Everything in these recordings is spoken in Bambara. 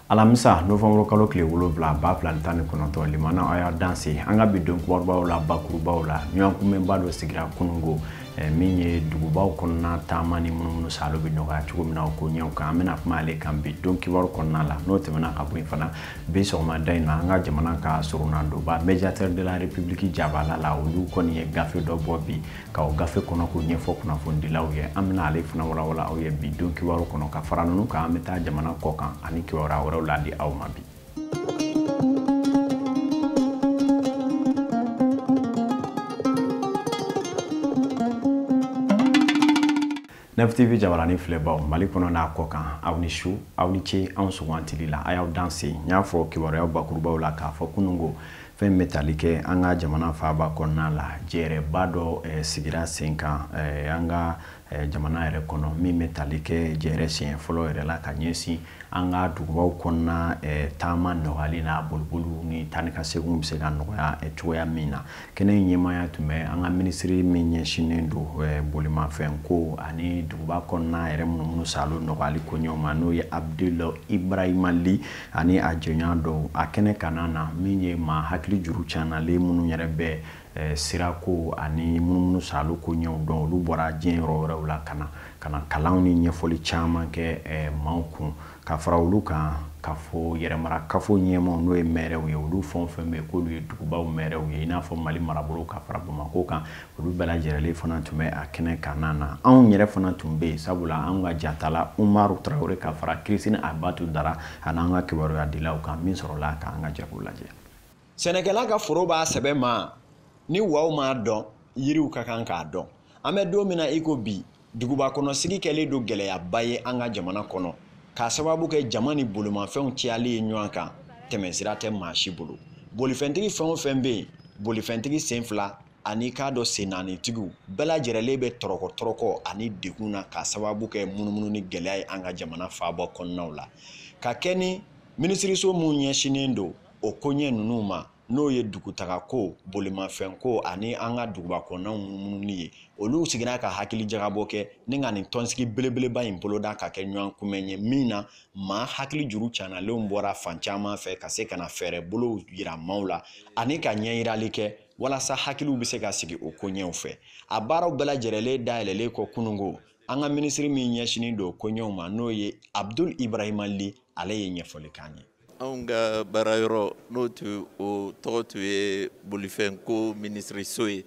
alamisa novanburu kalo tile wolonwula ba fila ni tan ni kɔnɔntɔn limana a y'a danse an ka bi don kumabaw la bakurubaw la ɲɔgɔn kunbɛnba dɔ sigira kunungo min ye dugubaw kɔnɔna taama ni munumunu salo bɛ nɔgɔya cogo min na o koɲɛw kan an bɛna kuma ale kan bi don kibaru kɔnɔna la n'o tɛmɛna ka bɔ yen fana bi sɔgɔmada in na an ka jamana ka soronadonba médiateur de la république jabala la olu kɔni ye gafe dɔ bɔ bi ka o gafe kɔnɔko ɲɛfɔ kunnafonidilaw ye an bɛna ale fana walawala aw ye bi don kibaru kɔnɔ ka fara ninnu kan an bɛ taa jamana kɔkan ani kibaruya wɛrɛw ladi aw ma bi nftv jabaranin filɛbaw mali kɔnɔ n'a kɔkan aw ni su aw ni ce anw sugantili la a y'aw danse n y'a fɔ kibaruyaw bakurubaw la k'a fɔ kunungo fɛn bɛ tali kɛ an ka jamana faaba kɔnɔna la jɛrɛba dɔ eh, sigira sen kan eh, an ka eh, jamana yɛrɛ kɔnɔ min bɛ tali kɛ jɛrɛ siɲɛ fɔlɔ yɛrɛ la ka ɲɛsin an ka dugubaw kɔnɔna eh, taama nɔgɔyali n'a boliboliw ni taa ni ka seginw bɛ se ka nɔgɔya eh, cogoya min na kɛnɛ in ɲɛmaaya tun bɛ an ka minisiri min ɲɛsinnen don bolimafɛn ko ani duguba kɔnɔna yɛrɛ munumunu salo nɔgɔyali koɲɛw ma n'o ye abdul ibrahima li ani a jɛɲɔgɔn dɔw a kɛnɛ kanna na min ye maa hakili juru cannalen minnu yɛrɛ bɛ Eh, sirako ani munumunu salo koɲɛw dɔn olu bɔra diɲɛ yɔrɔ wɛrɛw la ka na ka na kalanw ni ɲɛfɔli caman kɛ eh, maaw kun ka fara olu kan k'a fɔ yɛrɛmara kafo ɲɛmaaw n'o ye mɛrɛw ye olu fɛn fɛn bɛ k'olu ye dugubaw mɛrɛw ye i n'a fɔ mali marabolo ka fara bamako kan olu bɛɛ lajɛrɛlen fana tun bɛ a kɛnɛ kanna na anw yɛrɛ fana tun bɛ yen sabula anw ka jatala umaru tarawele ka fara kirisini abatu dara an'an ka kibaruya dilaw kan min sɔrɔla k'an ka jɛ k'o lajɛ sɛnɛkɛla ka foro b'a sɛbɛ ma ni waw m'a dɔn yiriw ka kan k'a dɔn an bɛ don min na i ko bi duguba kɔnɔ sigi kɛlen don gɛlɛyaba ye an ka jamana kɔnɔ k'a sababu kɛ jama ni bolimafɛnw cayali ye ɲɔgɔn kan tɛmɛsira tɛ maa si bolo bolifɛntigi fɛn o fɛn bɛ yen bolifɛntigi sen fila ani k'a dɔ sen naanitigiw bɛɛ lajɛrɛlen bɛ tɔrɔkɔ tɔrɔkɔ ani degun na k'a sababu kɛ munumununi gɛlɛya ye an ka jamana faaba kɔnɔnaw la ka kɛ ni minisiriso minnu ɲɛsinnen don o koɲɛ ninnu ma n'o ye dugutagako bolimafɛnko ani an ka dugubakɔnɔnaw munumunu ye olu sigira ka hakili jagabɔ kɛ ni ka nin tɔnsigi belebeleba in boloda ka kɛ ɲɔgɔn kunbɛn ye min na maa hakili juru canalenw bɔra fan caman fɛ ka se ka na fɛɛrɛ bolow yira maaw la ani ka ɲɛyirali kɛ walasa hakiliw bɛ se ka sigi o koɲɛw fɛ a baaraw bɛɛ lajɛrɛlen dayɛlɛlen kɔ kunungo an ka minisiri min ɲɛsinnen don o koɲɛw ma n'o ye abdul ibrahima li ale ye ɲɛfɔli k'an ye anw ka baara yɔrɔ n'o tun o tɔgɔ tun ye bolifɛn ko minisiriso ye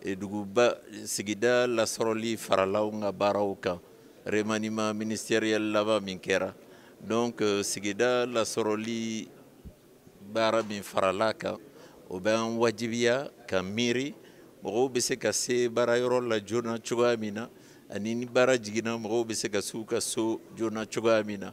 e, duguba sigida lasɔrɔli farala anw ka baaraw kan remaniement ministériel laban min kɛra donc euh, sigida lasɔrɔli baara min farala kan o bɛ an wajibiya ka miiri mɔgɔw bɛ se ka se baara yɔrɔ la joona cogoya min na ani ni baara jiginna mɔgɔw bɛ se ka s'u ka so joona cogoya min na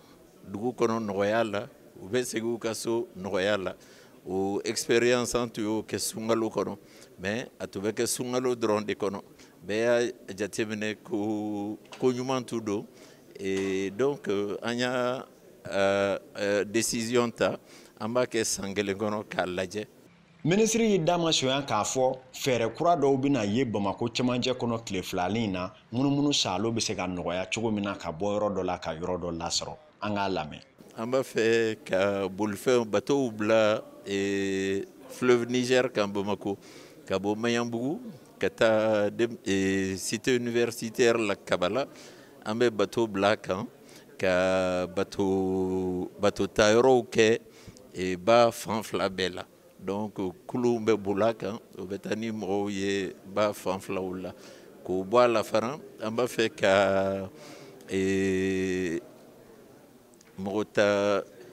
dugu kɔnɔ nɔgɔya la u bɛ segin u ka so nɔgɔya la o expérience an tun y'o kɛ sunkalo kɔnɔ mais a tun bɛ kɛ sunkalo dɔrɔn de kɔnɔ bɛɛ y'a jateminɛ ko ko ɲuman tun don et donc euh, an y'a euh, euh, décision ta an b'a kɛ san kelen kɔnɔ k'a lajɛ minisiri y'i da masonya k'a fɔ fɛɛrɛ kura dɔw bɛna ye bamakɔ cɛmancɛ kɔnɔ tile fila nin na munumunu saalo bɛ se ka nɔgɔya cogo min na ka bɔ yɔrɔ dɔ la ka yɔrɔ dɔ lasɔrɔ an k'a lamɛn an b'a fɛ ka bolifɛn batow bila e, fleuve niger kan bamako ka bɔ maɲanbugu ka taa e, cité universitaire la kabala an bɛ bato bil'a kan ka bato bato ta yɔrɔw kɛ e, ba fan fila bɛɛ la donc kulunw bɛ bol'a kan o bɛ taa ni mɔgɔw ye ba fan filaw la k'o bɔ a la fana an b'a fɛ ka e, mɔgɔ ta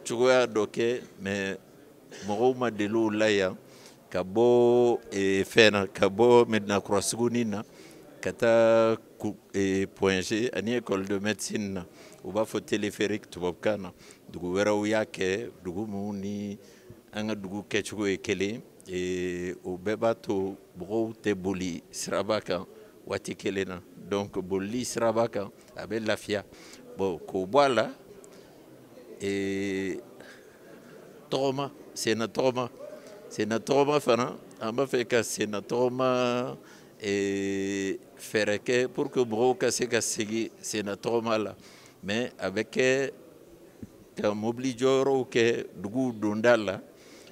cogoya dɔ kɛ mais mɔgɔw ma deli o la yan ka bɔ eh, fɛn na ka bɔ medina kura sugunin na ka taa eh, point g ani école de médecine na u b'a fɔ téléphérique tubabukan na dugu wɛrɛw y'a kɛ dugu minnu ni an ka dugu kɛcogo ye kelen eh, o bɛɛ b'a to mɔgɔw tɛ boli siraba kan waati kelen na donc bolili siraba kan a bɛ lafiya bon k'o bɔ a la ee tɔgɔma senna tɔgɔma senna tɔgɔma fana an b'a fɛ ka senna tɔgɔma ee fɛɛrɛ kɛ pour que mɔgɔw ka se ka segin senna tɔgɔma la mais a bɛ kɛ ka mobili jɔyɔrɔw kɛ duguw donda la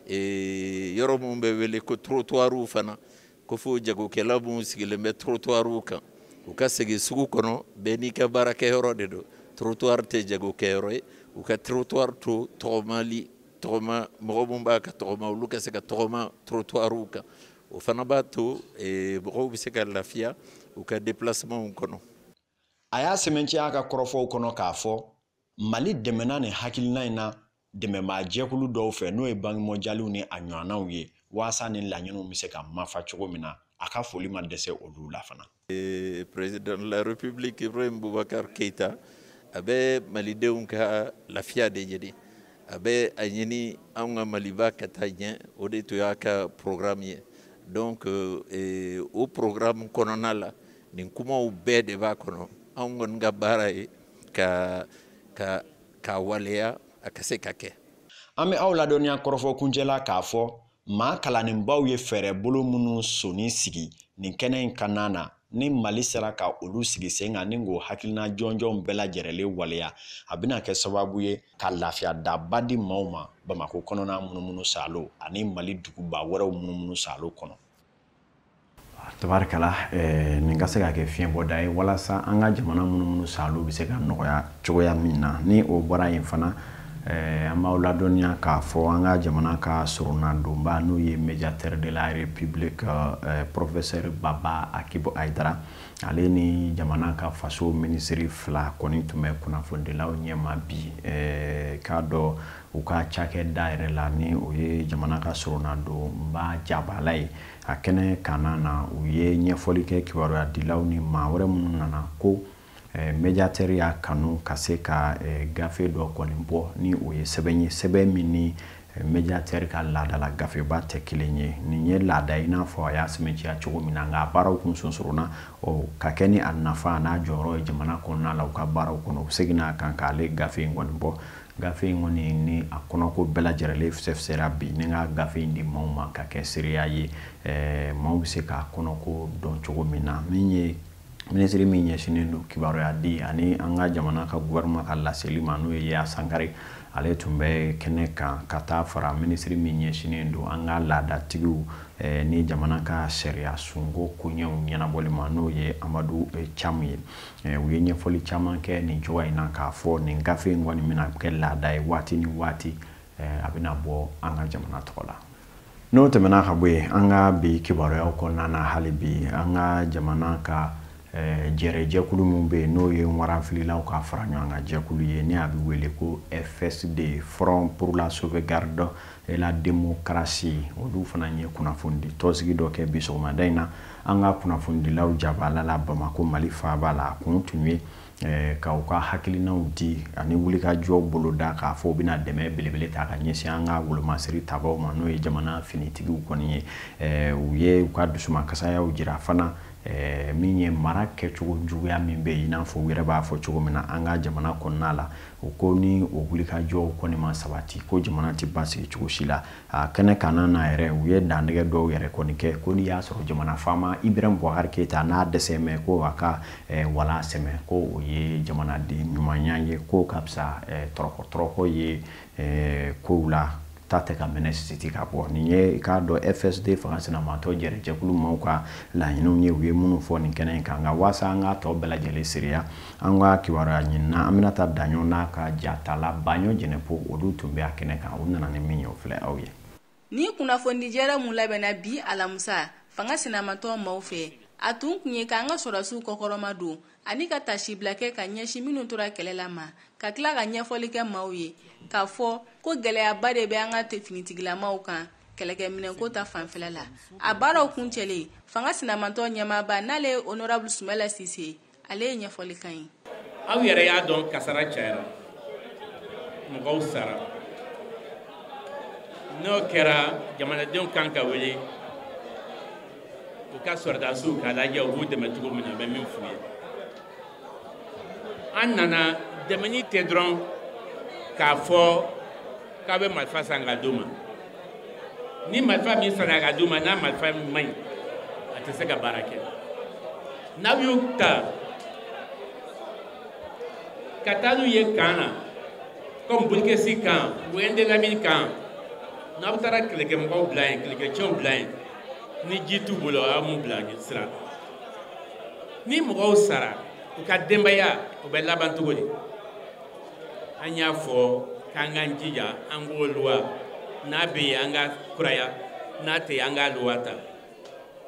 ee yɔrɔ minnu bɛ wele ko trottoirw fana ko fo jagokɛla minnu sigilen bɛ trottoirw kan u ka segin sugu kɔnɔ bɛɛ n'i ka baarakɛyɔrɔ de don trottoir tɛ jagokɛyɔrɔ ye u ka trottoir to tɔgɔmali tɔgɔma mɔgɔ minnu b'a ka tɔgɔma olu ka se ka tɔgɔma trottoirw kan o fana b'a to eh, mɔgɔw bɛ se ka lafiya u ka déplacementw kɔnɔ a y'a sɛmɛntiya a ka kɔrɔfɔw kɔnɔ k'a fɔ mali dɛmɛna nin hakilina in na dɛmɛbaa jɛkulu dɔw fɛ n'o ye banque mondiale ni a ɲɔgɔnnaw ye waasa ni laɲiniw bɛ se ka mafa cogo min na a ka foli ma dɛsɛ olu la fana. président de la république ibrahim boubacar keita a bɛ malidenw ka lafiya de ɲini a bɛ a ɲini anw ka maliba ka taa ɲɛ o de tun y'a ka programme ye donc eh, o programme kɔnɔna la nin kumaw bɛɛ de b'a kɔnɔ anw kɔni ka baara ye ka ka k'a waleya a ka se ka kɛ an bɛ aw ladɔnniya kɔrɔfɔ kuncɛ la k'a fɔ maa kalannenbaw ye fɛɛrɛ bolo minnu sonni sigi nin kɛnɛ in kanna na ni mali sera ka olu sigi sen kan ni k'o hakilina jɔnjɔnw bɛɛ lajɛrɛlen waleya a bɛna kɛ sababu ye ka lafiya daba di maaw ma bamakɔ kɔnɔna munumunu salo ani mali duguba wɛrɛw munumunu salo kɔnɔ tabarikala eh, nin ka se ka kɛ fiɲɛbɔda ye walasa an ka jamana munumunu salo bɛ se ka nɔgɔya cogoya min na ni o bɔra yen fana eh, an b'aw ladɔnniya k'a fɔ an ka jamana ka soronadonba n'o ye mediateur de la republique eh, professeur baba akib haidara ale ni jamana ka faso minisiri fila kɔni tun bɛ kunnafonidilaw ɲɛma bi k'a dɔ u ka cakɛda yɛrɛ la ni o ye jamana ka soronadonba jabala ye a kɛnɛ kanna na u ye ɲɛfɔli kɛ kibaruya dilaw ni maa wɛrɛ minnu nana ko eh, mediatɛri y'a kanu ka se ka eh, gafe dɔ kɔni bɔ ni o ye sɛbɛn ye sɛbɛn min ni eh, mediatɛri ka laadala gafeba tɛ kelen ye nin ye laada i n'a fɔ a y'a sɛmɛnciya cogo min na nka a baaraw kun sonsorona ɔ ka kɛ ni a nafa n'a jɔyɔrɔ ye jamana kɔnɔna la u ka baaraw kɔnɔ u seginna a kan k'ale gafe in kɔni bɔ gafe in kɔni ni a kɔnɔko bɛɛ lajɛrɛlen fisɛfisɛra bi ni ka gafe in di maaw ma ka kɛ seereya ye eh, maaw bɛ se k'a kɔnɔko dɔn cogo min na min ye minisiri min ɲɛsinnen don kibaruya di ani an ka jamana ka gouvernement ka laseli ma n'o ye yaya sangare ale tun bɛ kɛnɛ kan ka taa fara minisiri min ɲɛsinnen don an ka laadatigiw eh, ni jamana ka sariya sunko koɲɛw ɲɛnabɔli ma n'o ye amadu eh, camu ye Eh, u ye ɲɛfɔli caman kɛ nin cogoya in na k'a fɔ nin gafe in kɔni bɛna kɛ laada ye waati ni waati eh, a bɛna bɔ an ka jamana tɔgɔ la n'o tɛmɛna ka bɔ yen an ka bi kibaruyaw kɔnɔna na hali bi an ka jamana ka eh, jɛrɛ jɛkulu min bɛ yen n'o ye waranfililaw ka fara ɲɔgɔn kan jɛkulu ye ni a bɛ wele ko fsd front pour la sauvegarde et la démocratie olu fana ye kunnafonidi tɔnsigi dɔ kɛ bi sɔgɔmada in na an ka kunnafonidilaw jabaala la Bamako Mali faaba la a kun tun ye eh, ka u ka hakilinaw di ani wulikajɔ boloda k'a fɔ u bɛna dɛmɛ belebele ta ka ɲɛsin an ka wolomasiri tabaw ma n'o ye jamana finitigiw kɔni ye eh, u ye u ka dusumankasayaw jira fana eh, min ye mara kɛcogo juguya min bɛ yen i n'a fɔ u yɛrɛ b'a fɔ cogo min na an ka jamana kɔnɔna la u ko ni o wulikajɔw kɔni ma sabati ko jamana tɛ basigi cogo si la a kɛnɛ kan na yɛrɛ u ye dantigɛ dɔw yɛrɛ kɔni kɛ ko n'i y'a sɔrɔ jamana faama ibrahim bubakari keyita n'a dɛsɛ mɛ ko a ka eh, wala sɛmɛ ko o ye jamanaden ɲumanya ye ko ka fisa eh, tɔrɔkɔ tɔrɔkɔ ye eh, kow la ta tɛ ka minɛ sisiti ka bɔ nin ye k'a dɔn fsd fanga sinamatɔ jɛrɛ jɛkulu maaw ka laɲiniw ye u ye minnu fɔ nin kɛnɛ in kan nka waasa an k'a tɔ bɛɛ lajɛlen seereya an ka kibaruya ɲinina aminata daɲɔ n'a ka jatala baɲɔ jɛnɛpo olu tun bɛ a kɛnɛ kan u nana ni min ye o filɛ aw ye nin kunnafonidijɛrɛ mun labɛnna bi alamusa fanga sinamatɔ maaw fɛ a tun kun ye k'an ka sɔrɔdasiw kɔkɔrɔma don ani ka taasibila kɛ ka ɲɛsin minnu tora kɛlɛ la ma ka tila ka ɲɛfɔli kɛ maaw ye k'a fɔ ko gɛlɛyaba de bɛ an ka finitigilamaw kan kɛlɛkɛminɛnko ta fanfɛla la a baaraw kuncɛlen fanga sinamatɔ ɲɛmaaba n'ale ye honorable sumayila sise ale ye ɲɛfɔli kan ye aw yɛrɛ y'a dɔn kasara cayara mɔgɔw sara n'o kɛra jamanadenw kan ka wele u ka sɔrɔdasiw k'a lajɛ u b'u dɛmɛ cogo min na n bɛ min f'u ye an nana dɛmɛni tɛ dɔrɔn k'a fɔ k'aw bɛ marifa san ka d'u ma ni marifa min sanna ka d'u ma n'a marifa man ɲi a tɛ se ka baara kɛ n'aw y'u ta ka taa n'u ye kan na comme bulikesi kan ou indelimane kan n'aw taara kɛlɛkɛmɔgɔw bila yen kɛlɛkɛcɛw bila yen ni ji t'u bolo aw m'u bila sira ni mɔgɔw sara u ka denbaya u bɛ laban cogo di an y'a fɔ k'an k'an jija an ko luwa n'a bɛ yen an k'a kuraya n'a tɛ yen an ka luwa ta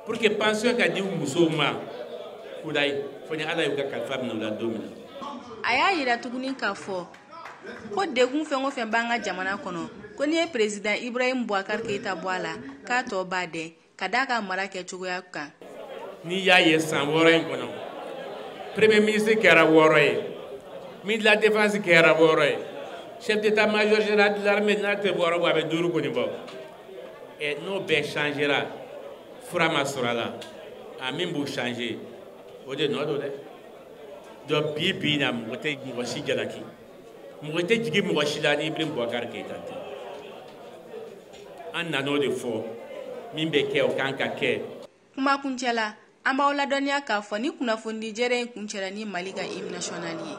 pour que pension ka di musow ma kudayi fo ni ala y'u ka kalifa minɛ u la don min na. a y'a yira tuguni k'a fɔ ko degun fɛn o fɛn b'an ka jamana kɔnɔ ko n'i ye peresidan ibrahim bubakari keyita bɔ a la k'a tɔ b'a dɛn. ka d'a ka mara kɛcogoya kan n'i y'a ye san wɔɔrɔ in kɔnɔ premier ministre kɛra wɔɔrɔ ye ministre de la défense kɛra wɔɔrɔ ye chef d'état major général de l'armée n'a tɛ wɔɔrɔ bɔ a bɛ duuru kɔni bɔ ɛ n'o bɛɛ changera fura ma sɔrɔ a la a min b'u changer o de nɔ don dɛ donc bi bi in na mɔgɔ tɛ mɔgɔ si jalaki mɔgɔ tɛ jigin mɔgɔ si la ni ibrahim bubakari keyita tɛ an nan'o de fɔ min bɛ kɛ o kan ka kɛ kuma kuncɛ la an b'aw ladɔnniya k'a fɔ ni kunnafonidi jɛrɛ in kuncɛra ni mali ka hymne national ye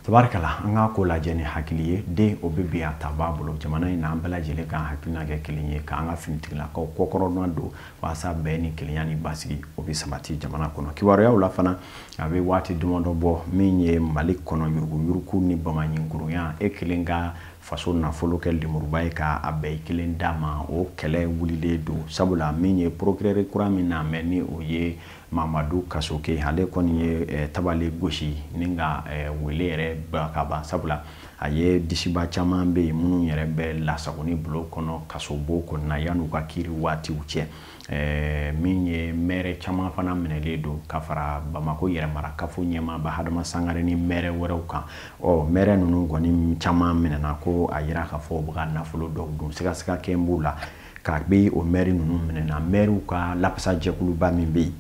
tabarikala an k'a ko lajɛ ni hakili ye den o bɛ bi a ta b'a bolo jamana in na an bɛɛ lajɛlen k'an hakilina kɛ kelen ye k'an ka finitigilakaw kɔkɔrɔma don walasa bɛn ni kelenya ni basigi o bɛ sabati jamana kɔnɔ kibaruyaw la fana a bɛ waati damadɔ bɔ min ye mali kɔnɔ yuruguyurugu ni bamanɲinkurunya e kelen ka faso nafolo kɛ lemuruba ye ka a bɛn i kelen da ma o kɛlɛ wulilen don sabula min ye procureur kura min na mɛ ni o ye Mamadu Kasoge ale kɔni ye eh, tabale gosi ni ka eh, wele yɛrɛ ba ka ban sabula a ye disiba caman bɛ yen minnu yɛrɛ bɛ lasagoni bulon kɔnɔ kasobo kɔnɔna yan'u ka kiri waatiw cɛ eh, min ye mɛrɛ caman fana minɛlen don ka fara Bamako yɛrɛmarakafo ɲɛmaaba Hadama Sangare ni mɛrɛ wɛrɛw kan ɔ mɛrɛ ninnu kɔni caman minɛna ko a yira k'a fɔ u bɛ ka nafolo dɔw dun sigasiga kɛlen b'u la k'a be o mɛri ninnu minɛna mɛriw ka lapasa jɛkuluba min bɛ yen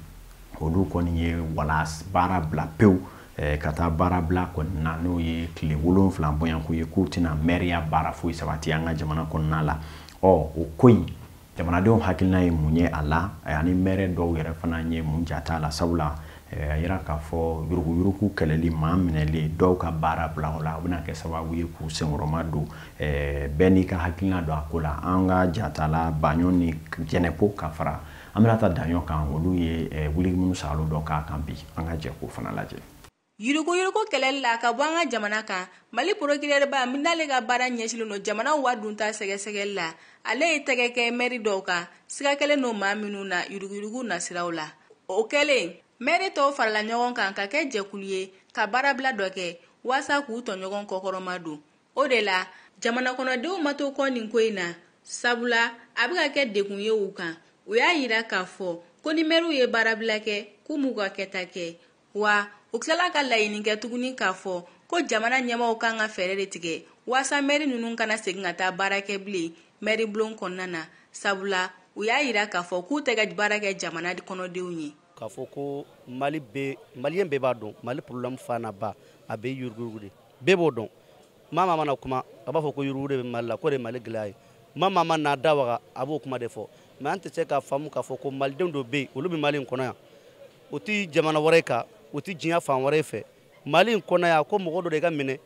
olu kɔni ye wala baara bila pewu eh, ka taa baara bila kɔni na n'o ye tile wolonfila bɔɲɔnko ye k'u tɛna mɛriya baara foyi sabati an ka jamana kɔnɔna la ɔ o ko in jamanadenw hakilina ye mun ye a la ani mɛrɛ dɔw yɛrɛ fana ye mun jate a la sabula a yira k'a fɔ yuruguyurugu kɛlɛli maa minɛlen dɔw ka baara bila o la o bɛna kɛ sababu ye k'u senkɔrɔma don bɛɛ n'i ka hakilina don a ko la an ka jatala baɲɔ ni jɛnɛpo ka fara aminata daɲɔ kan olu ye wuli minnu salo dɔ k'a kan bi an ka jɛ k'o fana lajɛ yuruguyurugu kɛlɛli la ka bɔ an ka jamana kan mali porokirɛrɛba min n'ale ka baara ɲɛsinlen don jamana wari dunta sɛgɛsɛgɛli la ale ye tɛgɛ kɛ mɛri dɔw kan siga kɛlen don maa minnu na yuruguyurugu nasiraw la o kɛlen mɛri tɔw farala ɲɔgɔn kan ka kɛ jɛkulu ye ka baarabila dɔ kɛ waasa k'u tɔɲɔgɔn kɔkɔrɔma don o de la jamanakɔnɔdenw ma to kɔ nin ko in na sabula a bɛ ka kɛ degun ye u kan u y'a yira k'a fɔ ko ni mɛriw ye baarabila kɛ k'u m'u ka kɛta kɛ wa u tilala ka laɲini kɛ tuguni k'a fɔ ko jamana ɲɛmaaw kan ka fɛɛrɛ de tigɛ waasa mɛri ninnu kana segin ka taa baara kɛ bilen mɛri bulon kɔnɔna na sabula u y'a yira k'a fɔ k'u tɛ ka baara kɛ jamana kɔnɔdenw ye k'a fɔ ko mali maliyɛn bɛɛ b'a dɔn mali porobilɛmu fanaba a bɛ yuruguyurugu de bɛɛ b'o dɔn maa maa mana kuma a b'a fɔ ko yuruguyurugu de bɛ mali la k'o de mali gɛlɛya ye maa maa man'a da waga a b'o kuma de fɔ mɛ an tɛ se k'a faamu k'a fɔ ko malidenw dɔ bɛ yen olu bɛ mali in kɔnɔ yan o tɛ jamana wɛrɛ kan o tɛ diɲɛ fan wɛrɛ fɛ mali in kɔnɔ yan ko mɔgɔ dɔ de ka minɛ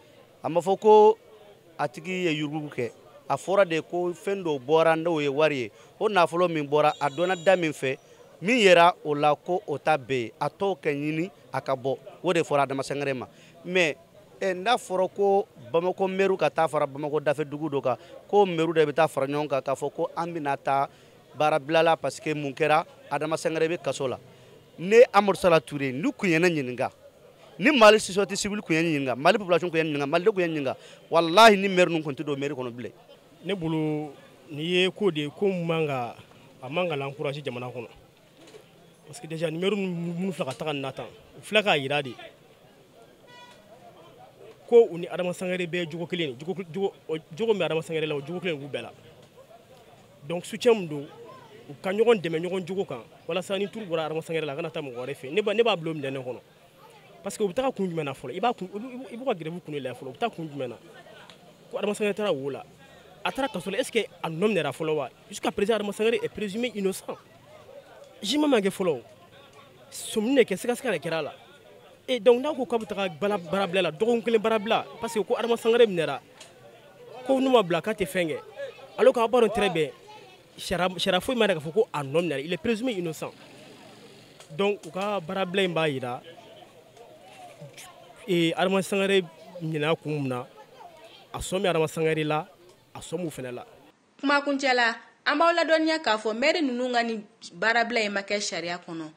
a ma fɔ ko a tigi ye yuruguyurugu kɛ a fɔra de ko fɛn dɔw bɔra n'o ye wari ye o nafolo min bɔra a donna da min fɛ min yera o la ko o ta bɛɛ ye a tɔw ka ɲini a ka bɔ o de fɔra adama sangare ma mais eh, n'a fɔra ko bamako mɛriw ka taa fara bamako dafɛ dugu dɔ kan ko mɛriw de bɛ taa fara ɲɔgɔn kan k'a fɔ ko an bɛna taa baarabila la parce que mun kɛra adama sangare bɛ kaso la ne amadu sala ture n'u kun ye ne ɲininka ni mali société civile kun ye ne ɲininka mali population kun ye ne ɲininka malidenw kun ye ne ɲininka walahi nin mɛri ninnu kun tɛ don mairie kɔnɔ bilen ne bolo nin ye ko de ye ko min man ka a man ka l'encourager jamana kɔnɔ parce que déjà nin mɛri minnu filɛ ka taga nin na tan u filɛ k'a yira de ko u ni adama sangare bɛɛ jogo kelen jogo min bɛ adama sangare la o jogo kelen b'u bɛɛ la donc soutien min don u ka ɲɔgɔn dɛmɛ ɲɔgɔn jogo kan walasa ni tour bɔra adama sangare la a kana taa mɔgɔ wɛrɛ fɛ ne b'a bila o minɛn de kɔnɔ parce que u bɛ taga kun jumɛn na fɔlɔ i b'a kun i b'u ka grève kun de lajɛ fɔlɔ u bɛ taa kun jumɛn na ko adama sangare taara wo la a taara kaso la est ce que a nɔ minɛra fɔlɔ wa jusqu'à présent adama sangare est présumé innocent jugement ma kɛ fɔlɔ o sɔmini de kɛ sikasika de kɛra a la et donc n'a ko k'a bɛ taga baarabila la dɔgɔkun kelen baarabila parce que ko adama sangare minɛra ko n'u m'a bila k'a tɛ fɛn kɛ alors qu'aw b'a dɔn très bien sariya foyi m'a yira k'a fɔ ko a nɔ minɛ il est présumé innocent donc u ka baarabila in b'a yira ee adama sangare minɛna kun mun na a sɔn bɛ adama sangare la a sɔn b'u fana la kuma kuncɛ la an b'aw ladɔnniya k'a fɔ mɛri ninnu ka nin baarabila in ma kɛ sariya kɔnɔ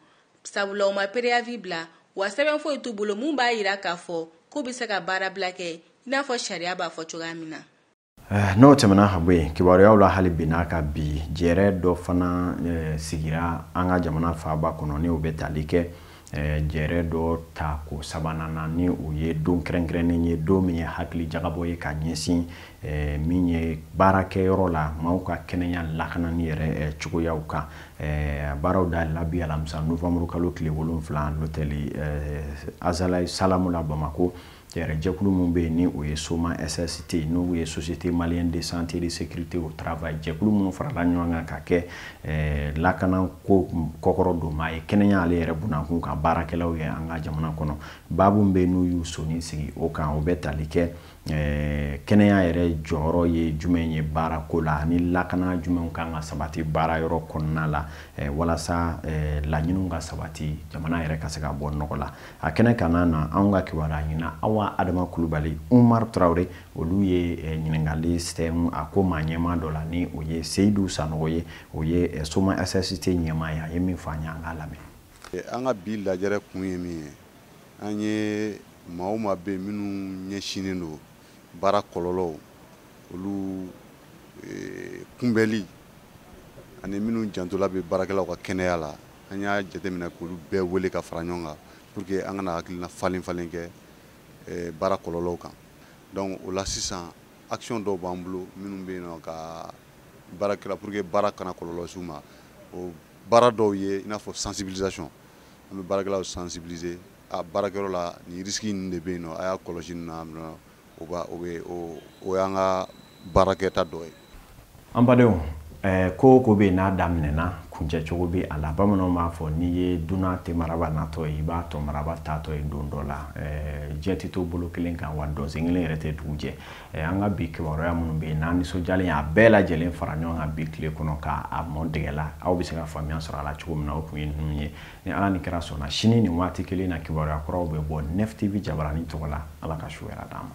sabula u ma préavis bila wa sɛbɛn foyi t'u bolo min b'a yira k'a fɔ k'u bɛ se ka baarabila kɛ i n'a fɔ sariya b'a fɔ cogoya min na eh, n'o tɛmɛna ka bɔ yen kibaruyaw la hali bi n'a ka bi jɛrɛ dɔ fana eh, sigira an ka jamana faaba kɔnɔ ni o bɛ tali kɛ jɛrɛ dɔ tako sabanan na ni o ye don kɛrɛnkɛrɛnnen ye don min ye hakili jagabɔ ye ka ɲɛsin min ye baarakɛyɔrɔ la maaw ka kɛnɛya lakanani yɛrɛ cogoyaw kan baaraw dayɛlɛla bi alamisa nowanburu kalo tile wolonwula l'hôtel azalaï salam la bamakɔ Jɛkulu minnu bɛ yen ni o ye Soma SST n'o ye Société Malienne de Santé et de Sécurité au Travail jɛkulu minnu farala ɲɔgɔn kan ka kɛ eh, lakanako kɔkɔrɔdonmaa ye kɛnɛya ale yɛrɛ bunankun kan baarakɛlaw ye an ka jamana kɔnɔ baabu min u y'u sɔnin sigi o kan o bɛ tali kɛ eh, kɛnɛya yɛrɛ jɔyɔrɔ ye jumɛn ye baarako la ani lakana jumɛnw kan ka sabati baara yɔrɔ kɔnɔna la eh, walasa laɲiniw ka sabati jamana yɛrɛ ka se ka bɔ nɔgɔ la a kɛnɛ ka na na anw ka kibaruya ɲinina awa adama kulubali umar tarawele olu ye eh, ɲininkali sɛmɛ a ko maa ɲɛmaa dɔ la ni o ye seyidu sanogo ye o ye eh, somasst ɲɛmaa ye a ye min fɔ an ye an k'a lamɛn eh, an ka bi lajɛrɛ kun ye min ye an ye maa o maa bɛ minnu ɲɛsinnen don baara kɔlɔlɔw olu kunbɛli ani minnu jantola bɛ baarakɛlaw ka kɛnɛya la an y'a jateminɛ k'olu bɛɛ wele ka fara ɲɔgɔn kan pour que an ka na hakilina falen falen kɛ eh, baara kɔlɔlɔw kan donc o la sisan action dɔw b'an bolo minnu bɛ yen nɔ ka baarakɛla pour que baara kana kɔlɔlɔ s'u ma o baara dɔw ye i n'a fɔ sensibilisation an bɛ baarakɛlaw sensibiliser a baarakɛyɔrɔ la nin risque ninnu de bɛ yen nɔ a y'a kɔlɔsi nin na o ba o bɛ o y'an ka baarakɛta dɔ ye an badenw eh, ko o ko bɛ yen n'a daminɛna kuncɛ cogo bɛ a la bamananw b'a fɔ n'i ye dunan ten maraba natɔ ye i b'a tɔn maraba taatɔ ye don dɔ la eh, diɲɛ tɛ to bolo kelen kan wa dɔnsen kelen yɛrɛ tɛ dugu jɛ eh, an ka bi kibaruya minnu bɛ yen n'an nisɔndiyalen y'a bɛɛ lajɛlen fara ɲɔgɔn kan bi tile kɔnɔ k'a mɔn dɛgɛ la aw bɛ se ka faamuya sɔrɔ a la cogo min na o tun ye ninnu ye ni ala ni kira sɔnna sini nin waati kelen na kibaruya kuraw bɛ bɔ nef tv jabaranin tɔgɔ la ala ka su hɛrɛ d'an ma